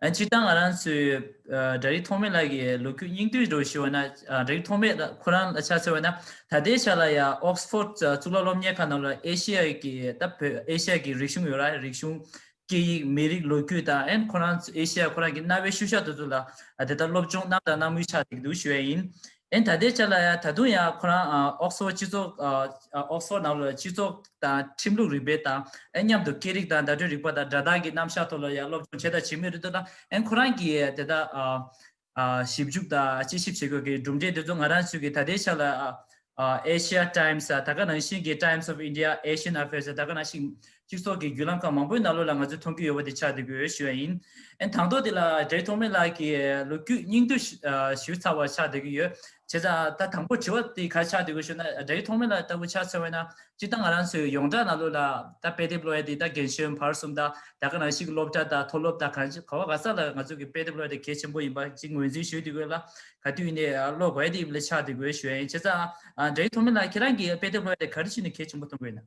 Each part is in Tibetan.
སྤྱིར་བཏང་ང་རང་ཚོའི་སྦྲ་རིགས་ཐོགས་མེད་ལགས་ཀྱི་ལོ་རྒྱུས་སྙིང་བསྡུས་སྒྲོགས་ཞུ་བ་ན་སྦྲ་རིགས་ཐོགས་མེད་ལགས་ཁོ་རང་ལ་ཕྱག་འཚལ་བ་ན་ད་ལྟའི་ཆ་ལ་ཡང Oxford གཙུག་ལག་སློབ་གཉེར་ཁང་ནང་ལ་ཨེ་ཤི་ཡ་ཀྱི་དང་བོད་ཨེ་ཤི་ཡ་ཀྱི་རིག་གཞུང་ཡོད་ར་རིག་གཞུང་སྐད་ཡིག་མི་རིགས་ལོ་རྒྱུས་དང་ཨན་ཁོ་རང་ཚོ་ཨེ་ཤི་ཡ་ཁོ་རང་གི་གནའ་བོའི་ཤུལ་བཞག་དུ་ཚུད་ལ་དེ་ལྟར་སློབ་སྦྱོང་གནང་དང་གནང་མུས་ཆགས་འདུག་ཞུ་ཡ་ཡིན། ཨན་ད་ལྟའི་ཆ་ལ་ད་དུང་ཡང་ཁོ་རང་ཨོག་སོར་སྤྱི་ཚོགས་ཨོག་སོར་ནང་ལོ་སྤྱི་ཚོགས་དང་ཁྲིམས་ལུགས་རིག་པའི་དང་ཨན་མཉམ་དུ་སྐད་རིགས་དང་བརྡ་སྤྲོད་རིག་པ་དང་སྒྲ་གདངས་ཀྱི་རྣམ་གཞག་ཐོག་ལ་ཡང་སློབ་སྦྱོང་བྱས་དང་བྱེད་མུས་རེད་འདུག་ན་ཨན་ཁོ་རང་གིས་དེ་དག་ཞིབ་འཇུག་དང་དཔྱད་ཞིབ་བྱེད་དགོས་ཀྱི་གྲུབ་འབྲས་དེ་ཚོ་ང་རང་ཚོས་ཀྱིས་ད་ལྟའི་ཆ་ལ Asia Times ད་ག་ནང་བཞིན་གྱི Times of India Asian Affairs ད་ག་ནང་བཞིན་སྤྱི་ཚོགས་ཀྱི་བརྒྱུད་ལམ་ཁག་མང་པོའི་ནང་ལོ་ལ་ང་ཚོས་མཐོང་རྒྱུ་ཡོད་པ་དེ་ཆགས་འདུག་གི་ཞུ་བ་ཡིན། ཨན་དང་ཐོག་དེ་ལ་བགྲེས་ཐོག་མེད་ལགས་ཀྱིས་ལོ་རྒྱུས་སྙིང་བསྡུས་ཞུས་ཚར་བ་ཆགས་འདུག་གི་ཡོད། བྱས་ཙང་ད་དང་པོར་དྲི་བ་དེ་ག་རེ་ཆགས་འདུག་གི་ཞུ་ན་བགྲེས་ཐོག་མེད་ལགས་ལྟ་བུ་ཆགས་ཚར་བས་ན་སྤྱིར་བཏང་ང་རང་ཚོའི་ཡོངས་གྲགས་ནང་ལོ་ལ་ད་དཔེ་དེབ་ཀློག་ཡ་དེ་ད་རྒན་གཞོན་བར་གསུམ་ད་ད་ག་རང་ཞིག་གི་སློབ་གྲྭ་ད་མཐོ་སློབ་ད་ག་ག་བ་ག་ས་ལ་ང་ཚོ་གི་དཔེ་དེབ་ཀློག་ཡ་དེ་གལ་ཆེན་པོ་ཡིན་པ་ཅིག་ངོས་འཛིན་ཞུས་འདུག་གི་ལ་ག་དུས་ནས་ཀློག་དགོས་ཡ་དེ་ཡིན་པ་ལ་ཆགས་འདུག་གི་ཞུ་བ་ཡིན། བྱས་ཙང་བགྲེས་ཐོག་མེད་ལགས་ཁྱེད་རང་གིས་དཔེ་དེབ་ཀློག་ཡ་དེ་ག་རེ་བྱས་ནས་གལ་ཆེན་པོ་མཐོང་གི་ཡོད་ན།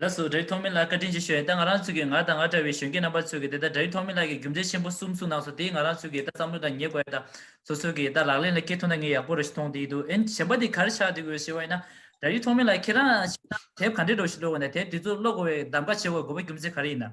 ལ་སོགས་དྲྭ་བའི་ཐོག་མའི་ལ་བཀའ་དྲིན་ཆེ་ཞུ་ཨེ་ད་ང་རང་ཚོད་ཀྱི་ང་དང་ང་འདྲ་བའི་གཞོན་སྐྱེས་རྣམ་པ་ཚོད་ཀྱི་དེ་ད་དྲྭ་བའི་ཐོག་མའི་ལ་གྱི་རྒྱུ་མཚན་ཆེན་པོ་གསུམ་གསུངས་གནང་སོང་དེ་ང་རང་ཚོད་ཀྱི་ད་བསམ་བློ་དང་ཉེ་དགོས་ཨེ་ད་ཚོ་ཚོད་ཀྱི་ད་ལག་ལེན་ལ་སྐྱེལ་ཐུབ་ན་ངས་ཡག་པོ་རེ་ཞིག་མཐོང་བསྡད་ཡི་འདུག་ཨེ་གཞན་པ་དེ་གར་ཆགས་བསྡད་དགོས་ཞེས་བ་ཨེ་ན་དྲྭ་བའི་ཐོག་མའི་ལ་ཁྱེད་རང་ཤེས་ན་དེབ་ག་འདྲའི་སྒྲོག་བཞིན་འགྲོ་དགོས་ན་དེབ་དེ་ཚོ་ཀློག་དགོས་བའི་གདམ་ག་བྱེད་དགོས་དགོས་པ་རྒྱུ་མཚན་ག་རེ་ཡིན་ན།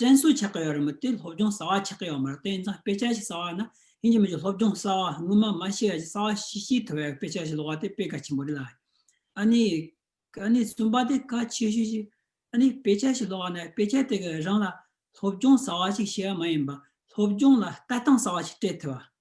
དྲན་གསོ་བྱེད་ཀྱི་ཡོད་རེད་མོད་དེ་སློབ་སྦྱོང་གསར་བ་བྱེད་ཀྱི་ཡོད་མ་རེད་དེ་ཡིན་ཙང་དཔེ་ཆ་ཞིག་གསར་བ་ན་ཡིན་གྱི་མིན་གྱི་སློབ་སྦྱོང་གསར་བ་སྔོན་མ་མ་ཤེས་ཡ་ཞིག་གསར་བ་ཤིག་ཤེས་ཐུབ་པའི་དཔེ་ཆ་ཞིག་ལོག་བ་དེ་དཔེ་གལ་ཆེན་པོ་རེད་ལ། ཨ་ནི། ཨ་ནི་གསུམ་པ་དེ་གལ་ཆེ་ཤོས་ཤིག། ཨ་ནི་དཔེ་ཆ་ཞིག་ལོག་བ་ན་དཔེ་ཆ་དེ་ག་རང་ལ་སློབ་སྦྱོང་གསར་བ་ཞིག་བྱེད་ཡ་མ་ཡིན་པ་སློབ་སྦྱོང་ལ་ལྟ་སྟངས་གསར་བ་ཞིག་སྤྲད་ཐུབ་པ།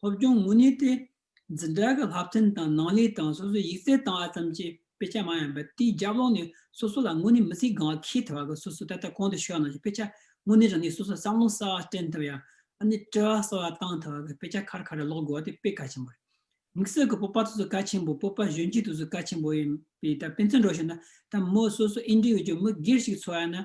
སློབ་སྦྱོང་མུ་ནེ་སྟེ། འཛིན་གྲྭ་གི་ལྷག་ཕྲན་དང་ནང་ལས་དང་སོ་སོས་ཡིག་རྩལ་བཏང་བ་ཙམ་གྱིས་དཔེ་ཆ་མང་ཡང་འབད་དེའི་རྒྱབ་ལོགས་ནས་སོ་སོ་ལ་དངོས་གནས་མི་ཚེའི་གང་བ་ཁེལ་ཐུབ་པ་གི་སོ་སོའི་ད་ལྟ་གོང་དུ་ཤོད་གནང་བཞིན་དཔེ་ཆ་དངོས་གནས་རང་ཉིད་སོ་སོས་བསམ་བློ་གསར་བ་བསྐྲན་ཐུབ་ཡང་ཨ་ནེ་བཀྲི་བ་གསར་བ་བཏང་ཐུབ་པ་གི་དཔེ་ཆ་ཁར་ཁར་རེ་ཀློག་དགོས་བ་དེ་དཔེ་གལ་ཆེན་པོ་རེད། དམིགས་བསལ་གི་སྤོབས་པ་དུ་ཚོད་གལ་ཆེན་པོ་སྤོབས་པ་གཞོན་སྐྱེས་དུ་ཚོད་གལ་ཆེན་པོ་ཡིན་པས་ད་སྤེན་ཚེ་འགྲོ་ཞོར་ན་ད་མོ་སོ་སོ་ཨིན་འགྲིག་ཡོད་ཀྱི་མི་སྒེར་ཞིག་འཚོལ་བ་ཡིན་ན་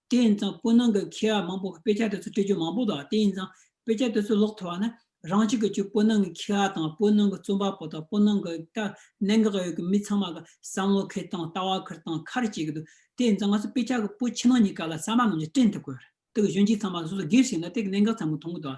དེ་ཡིན་ཙང་སྤོ་ནང་གི་མཁས་པ་མང་པོ་དཔེ་ཆ་དེ་ཚོ་སྤྲད་རྒྱུ་མང་པོ་འདུག་དེ་ཡིན་ཙང་དཔེ་ཆ་དེ་ཚོ་ཀློག་ཐུབ་པ་ནི་རང་ཅག་གིས་ཀྱི་སྤོ་ནང་གི་མཁས་པ་དང་སྤོ་ནང་གི་རྩོམ་པ་པོ་དང་སྤོ་ནང་གི་ལྟ་གནད་འགག་ཡོད་ཀྱི་མི་ཚང་མ་གི་བསམ་བློ་ཁེལ་དང་ལྟ་བ་ཁེལ་དང་ཁ་རེ་བྱེད་ཀྱི་འདུག་དེ་ཡིན་ཙང་ང་ཚོ་དཔེ་ཆ་གི་སྤོ་ཕྱི་ནང་གཉིས་ཀ་ལ་གསར་མ་རྣམས་ཀྱིས་བཀྲིན་ཐུབ་དགོས་རེད་དེ་གི་གཞོན་སྐྱེས་ཚང་མ་སོ་སོ་སྒེར་བཞིན་ལ་དེ་གི་གནད་འགག་ཚང་མ་མཐོང་གི་འདུག་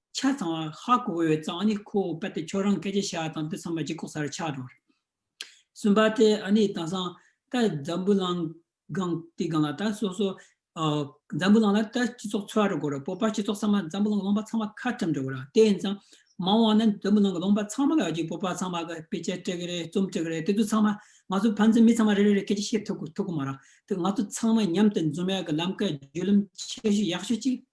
ཆ་ཚང་བ་ཧ་གོ་བའི་གཙང་ནི་ཁོ་བོ་པད་དེ་ཁྱོད་རང་སྐད་ཆ་བྱ་བ་དང་དུས་ཚང་མ་ལྗིད་ཁོག་ས་རུ་ཆགས་འགྲོ་བ་རེད། གསུམ་པ་དེ་ཨ་ནི་དེང་སང་ད་འཛམ་བུ་གླང་སྒང་དེའི་སྒང་ལ་ད་སོ་སོ་འཛམ་བུ་གླང་ལ་ད་སྤྱི་ཚོགས་འཚོ་བ་རུ་གོ་ར་བོད་པ་སྤྱི་ཚོགས་ཚང་མ་འཛམ་བུ་གླང་གི་ལུང་པ་ཚང་མ་ཁ་བཀྲམ་འགྲོ་གི་ར་དེ་ཡིན་ཙང་མ་འོང་བ་ན་འཛམ་བུ་གླང་གི་ལུང་པ་ཚང་མ་ལ་གཅིག་བོད་པ་ཚང་མ་གི་དཔེ་ཆ་སྤྲད་གི་རེད་རྩོམ་སྤྲད་གི་རེད་དེ་དུས་ཚང་མ་ང་ཚོ་ཕན་ཚུན་མི་ཚང་མ་རེ་རེ་རེ་སྐད་ཆ་བཤད་ཐུབ་གི་མ་རང་དེ་ང་ཚོ་ཚང་མ་མཉམ་དུ་འཛོམས་ཡག་གི་ལམ་ཁ་བརྒྱུད་ལམ་ཆེ་ཤོས་ཡག་ཤོས་ཅིག་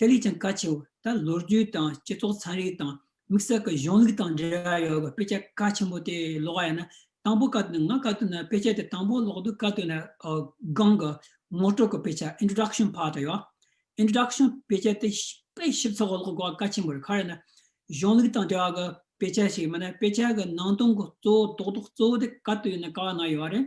དེ་ལས་ཀྱང་གལ་ཆེ་བ་ད་ལོ་རྒྱུས་དང་སྤྱི་ཚོགས་ཚན་རིག་དང་དམིགས་བསལ་གྱི་གཞུང་ལུགས་དང་འབྲེལ་བ་ཡོད་པའི་དཔེ་ཆ་གལ་ཆེན་པོ་དེ་ཀློག་ཡ་ན་དང་པོ་ཀ་དོན་ང་ཀ་དོན་ན་དཔེ་ཆ་དེ་དང་པོ་ཀློག་དུས་ཀ་དོན་ན་སྒང་གི་ངོ་སྤྲོད་ཀྱི་དཔེ་ཆ Introduction Part དེ་ཡོད Introduction དཔེ་ཆ་དེ་དཔེ་ཞིབ་ཚགས་པོ་ཀློག་དགོས་པ་གལ་ཆེན་པོ་རེད་ག་རེ་ན་གཞུང་ལུགས་དང་འབྲེལ་བ་གྱི་དཔེ་ཆ་ཞིག་མིན་ན་དཔེ་ཆ་གྱི་ནང་དོན་གྱི་གཙོ་བོ་རྡོག་རྡོག་གཙོ་བོ་དེ་ཀ་དོན་ན་ཀ་བ་ན་ཡོད་རེད་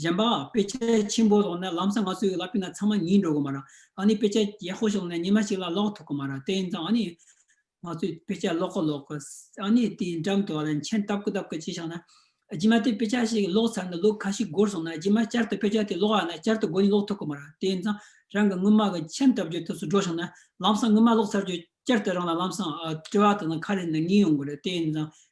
གཞན་པ། དཔེ་ཆ་ཆེན་པོ་ལོག་ན་ལམ་སང་ང་ཚོ་ཡོད་ལ་དཔེ་ན་ཚང་མ་ཉིད་འགྲོ་གི་མ་རང། ད་ནི་དཔེ་ཆ་ཡག་པོ་ཞིག་ལོག་ན་ཉི་མ་ཞིག་ལ་ལོག་ཐུབ་གི་མ་རང་དེ་ཡིན་ཙང་ཨ་ནི། ང་ཚོས་དཔེ་ཆ་ལོག་གི་ལོག་གི། ཨ་ནི་དེའི་འགྲམ་དུ་བ་ལ་མཆན་བཏབ་གི་བཏབ་གི་བྱས་ཤག་ན། རྗེས་མ་དེ་དཔེ་ཆ་ཞིག་ལོག་ཚར་ནས་ལོ་ཁ་ཤིག་འགོར་སོང་ན་རྗེས་མ་བསྐྱར་དུ་དཔེ་ཆ་དེ་ལོག་ཡག་ན་བསྐྱར་དུ་དགོན་ནས་ལོག་ཐུབ་གི་མ་རང་དེ་ཡིན་ཙང་རང་གི་དངུལ་མ་གི་མཆན་བཏབ་རྒྱུའི་དུས་སུ་འགྲོ་ཤག་ན། ལམ་སང་དངུལ་མ་ལོག་ཚར་རྗོད་བསྐྱར་དུ་རང་ལ་ལམ་སང། བཀྲི་བ་དང་ལ་ཁ་རེ་ནི་ངེས་ཡོང་གི་རེད་དེ་ཡིན་ཙང་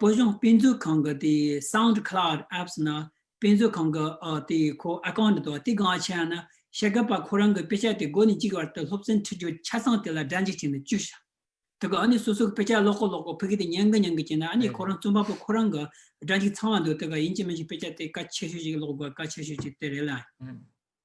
བོད་ལྗོངས་དཔེ་མཛོད་ཁང་གི་དེ Sound Cloud Apps ནང་དཔེ་མཛོད་ཁང་གི་དེ་ཁོ Account དང་དེ་གང་ཆེ་ཡང་ན་ཤེས་ཀ་པ་ཁོ་རང་གི་དཔེ་ཆ་དེ་སྒོ་ནས་གཅིག་བར་དུ་སློབ་ཚན་འཁྲིད་རྒྱུ་ཆ་ཚང་དེ་ལ་སྒྲ་འཇིགས་བྱས་ནས་བཅུག་ཤག་དེ་ག་ནས་སོ་སོ་གི་དཔེ་ཆ་ཀློག་ཀོ་ཀློག་ཀོ་ཕི་གི་དེ་ཉན་གི་ཉན་གི་བྱས་ན་ཨ་ནི་ཁོ་རང་རྩོམ་པ་པོ་ཁོ་རང་གི་སྒྲ་འཇིགས་ཚང་བ་འདུག་དེ་ག་ཡིན་གཅིག་མིན་གཅིག་དཔེ་ཆ་དེ་ག་ཆེ་ཤོས་ཅིག་ཀློག་དགོས་ག་ཆེ་ཤོས་ཅིག་དེ་རེད་ལ།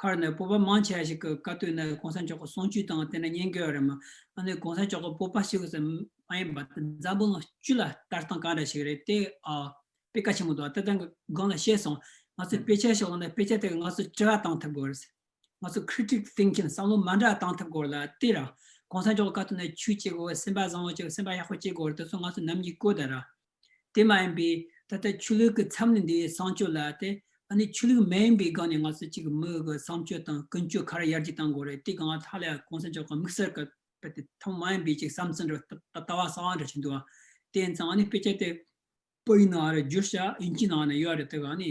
ཁར་ནས་སྤོབས་པ་མང་ཆེ་བ་ཞིག་གི་བཀའ་བཏོན་ནས་གོང་ས་མཆོག་གི་གསུང་ཆོས་དང་དེ་ནས་ཉན་དགོས་པ་རེད་མ་ཨ་ནི་གོང་ས་མཆོག་གི་སྤོབས་པ་ཞིག་གིས་མ་ཡིན་པ་དེ་འཛམ་བུ་གླིང་བཅུ་ལ་ལྟ་སྟངས་ག་འདྲ་ཞིག་རེད་དེ་ཨ། དཔེ་ཀ་ཆེན་མོ་དང་ལྟ་སྟངས་གི་སྒང་ལ་ཤེས་སོང་ང་ཚོས་དཔེ་ཆ་ཞིག་བླངས་ནས་དཔེ་ཆ་དེ་ག་ང་ཚོས་དྲི་བ་བཏང་ཐུབ་དགོས་རེད། ང་ཚོས Critic Thinking བསམ་བློ་མ་འདྲ་བཏང་ཐུབ་དགོས་རེད་ལ་དེ་ར། གོང་ས་མཆོག་གི་བཀའ་བཏོན་ནས་ཆོས་བྱེད་དགོས་པ་སེམས་པ་བཟང་བོ་བྱེད་དགོས་སེམས་པ་ཡག་པོ་བྱེད་དགོས་རེད་དེ་ཚོ་ང་ཚོས་ནམ་ཡིན་གོ་ད་ར། དེ་མ་ཡིན་པའི་ད་ལྟ་ཆོས་ལུགས་ཀྱི་ཚབ་ནི་འདི་བསང་སྤྱོད་ལ་སྟེ། ཨ་ནི་ཆོས་ལུགས་མ་ཡིན་པའི་སྒང་ནས་ང་ཚོ་གཅིག་གི་མི་གི་བསང་སྤྱོད་དང་ཀུན་སྤྱོད་ག་རེ་ཡར་རྒྱས་བཏང་དགོས་རེད་དེ་གང་ལ་ཐ་ལ་གོང་ས་མཆོག་གི་དམིགས་བསལ་གི་དཔེ་དེ་ཐོག་མ་ཡིན་པའི་ཅིག་བསམ་ཚུལ་འདྲ་བ་ལྟ་བ་གསར་བ་འདྲ་བྱས་འདུག་ཨ། དེ་ཡིན་ཙང་ཨ་ནི་དཔེ་ཆ་དེ་པོ་ཡིན་ནའང་རེད་བསྒྱུར་བྱ་དབྱིན་ཇིའི་ནང་ནས་ཡོད་རེད་དེ་ག་ནི།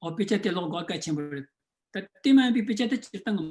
ཨོ་དཔེ་ཆ་དེ་ཀློག་དགོས་གལ་ཆེན་པོ་རེད། ད་དེ་མ་ཡིན་པའི་དཔེ་ཆ་དེ་སྤྱིར་བཏང་གི།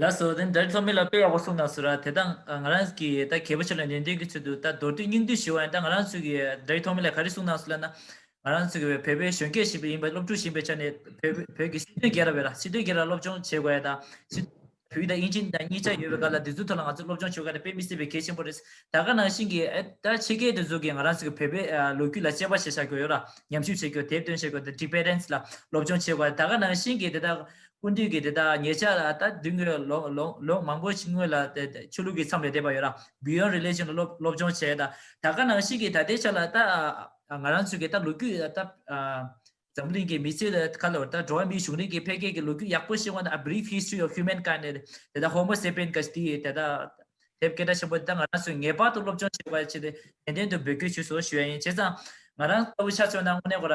ལ་སོགས་དེ་འདྲར་ཐོགས་མེད་ལ་དཔེ་ཡག་པོ་གསུངས་ན་ཟུར་ར་དེ་དག་ང་རང་གིས་ད་གལ་པོ་ཆེ་ལ་ནན་ཏན་གྱི་ཚུལ་དུ་ད་མདོར་བསྡུས་སྙིང་བསྡུས་ཞུས་བ་ཡིན་ད་ང་རང་ཚོས་ཀྱིས་འདྲའི་ཐོག་མེད་ལ་ག་རེ་གསུངས་ནང་སོ་ལ་ན། ང་རང་ཚོས་ཀྱིས་བོད་པའི་གཞོན་སྐྱེས་ཞིག་པའི་ཡིན་པ་སློབ་ཕྲུག་ཞིག་པའི་ཆ་ནས་བོད་ཀྱི་སྲིད་དོན་རྒྱལ་རབས་བས་ལ་སྲིད་དོན་རྒྱལ་རབས་སློབ་སྦྱོང་བྱེད་དགོས་ཡ་ད། སྲིད་དོན་རྒྱལ་རབས་བོད་ཡིག་དང་དབྱིན་ཇི་དང་གཉིས་ཆ་ཡོད་པའི་སྐབས་ལ་དེ་ཚོའི་ཐོག་ལ་ང་ཚོས་སློབ་སྦྱོང་བྱེད་དགོས་ཡ་ད་དཔེ་མི་སྲིད་པའི་གལ་ཆེན་པོ་རེད་ད་དགའ་ནང་བཞིན་གྱིས་ཨེ་ད་ཕྱི་རྒྱལ་དེ་ཚོ་གིས་ང་རང་ཚོས་ཀྱི་བོད་པའི་ལོ་རྒྱུས་ལ་དཔྱད་པ་ཞིག་བྱ་དགོས་ཡོད་ར་ཉམས་ཞིབ་བྱེད་དགོས་དེབ་སྟོན་བྱེད་དགོས་ད་འགྲིག་པས་རན་ལ་སློབ་སྦྱོང་བྱེད་དགོས་ཡ་ད་དགའ་ནང་བཞིན་གྱིས་དེ་དག་ཀུན་འདུས་ཀྱི་དེ་དག་ངེད་ཅག་ལ་ད་དུས་ངོས་ལོག་མང་པོ་ཕྱིན་སྔོན་ལ་ཆོས་ལུགས་ཀྱི་མཚམས་ལས་འདས་པ་ཡོད་ན Beyond Religion ལ་སློབ་སྦྱོང་བྱས་ད་ད་ག་ནང་ཞིག་གིས་ད་ལྟའི་ཆ་ལ་ད་ང་རང་ཚོའི་ད་ལོ་རྒྱུས་ད་འཛམ་གླིང་གི་མི་ཚེའི་ཁ་ལོར་ད་འགྲོ་བ་མིའི་གཞུང་རིང་གི་འཕེལ་རྒྱས་ཀྱི་ལོ་རྒྱུས་ཡག་པོ་ཞིག་འོང་ན A Brief History of Humankind ནས་དེ་ད Homo Sapien ག་དེའི་དེ་ད་དེབ་སྐད་གྲགས་ཆེན་པོ་དེ་ད་ང་རང་ཚོས་ངེས་པར་དུ་སློབ་སྦྱོང་བྱེད་དགོས་པ་ཆེད་ནན་ཏན་དུ་འབོད་སྐུལ་ཞུ་སོ་ཞུ་ཡ་ཡིན་བྱས་ཙང་ང་རང་ལྟ་བུ་ཤ་ཚོད་ན་དངོས་གནས་གོ་ར་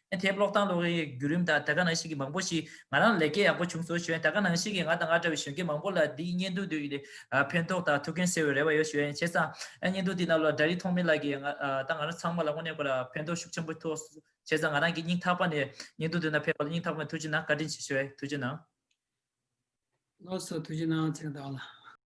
ཨེ་ཐེ་གློག་དང་གློག་གཡས་བརྒྱུད་རིམ་དང་ད་ག་ནང་བཞིན་གྱི་མང་པོ་ཞིག་ང་རང་ལས་ཀའི་ཡག་པོ་བྱུང་སོང་ཞོན་ད་ག་ནང་བཞིན་གྱི་ང་དང་ང་འདྲ་བའི་གཞོན་སྐྱེས་མང་པོ་ལ་འདིའི་བརྙན་ཐུང་འདི་ཕན་ཐོག་དང་ཐུགས་འགན་སེལ་བའི་རེ་བ་ཡོད་ཞོན་བྱས་ཙང་བརྙན་ཐུང་འདི་རྣམས་ལ་དགྲ་རིགས་ཐོག་མེད་ལགས་ཀྱིས་ང་དང་ང་རང་ཚང་མ་ལ་དངོས་གནས་ཁོ་ལ་ཕན་ཐོག་ཤུགས་ཆེན་པོ་ཐོགས་བྱས་ཙང་ང་རང་གིས་སྙིང་ཐག་པ་ནས་བརྙན་ཐུང་འདི་རྣམས་ཕེབས་པ་ལ་སྙིང་ཐག་པ་ནས་ཐུགས་ཆེ་གནང་བཀའ་དྲིན་ཆེ་ཞོན་ཐུགས་ཆེ་གནང། བློ་གསོ་ཐུགས་ཆེ་གནང་བརྩེ་བ་དང།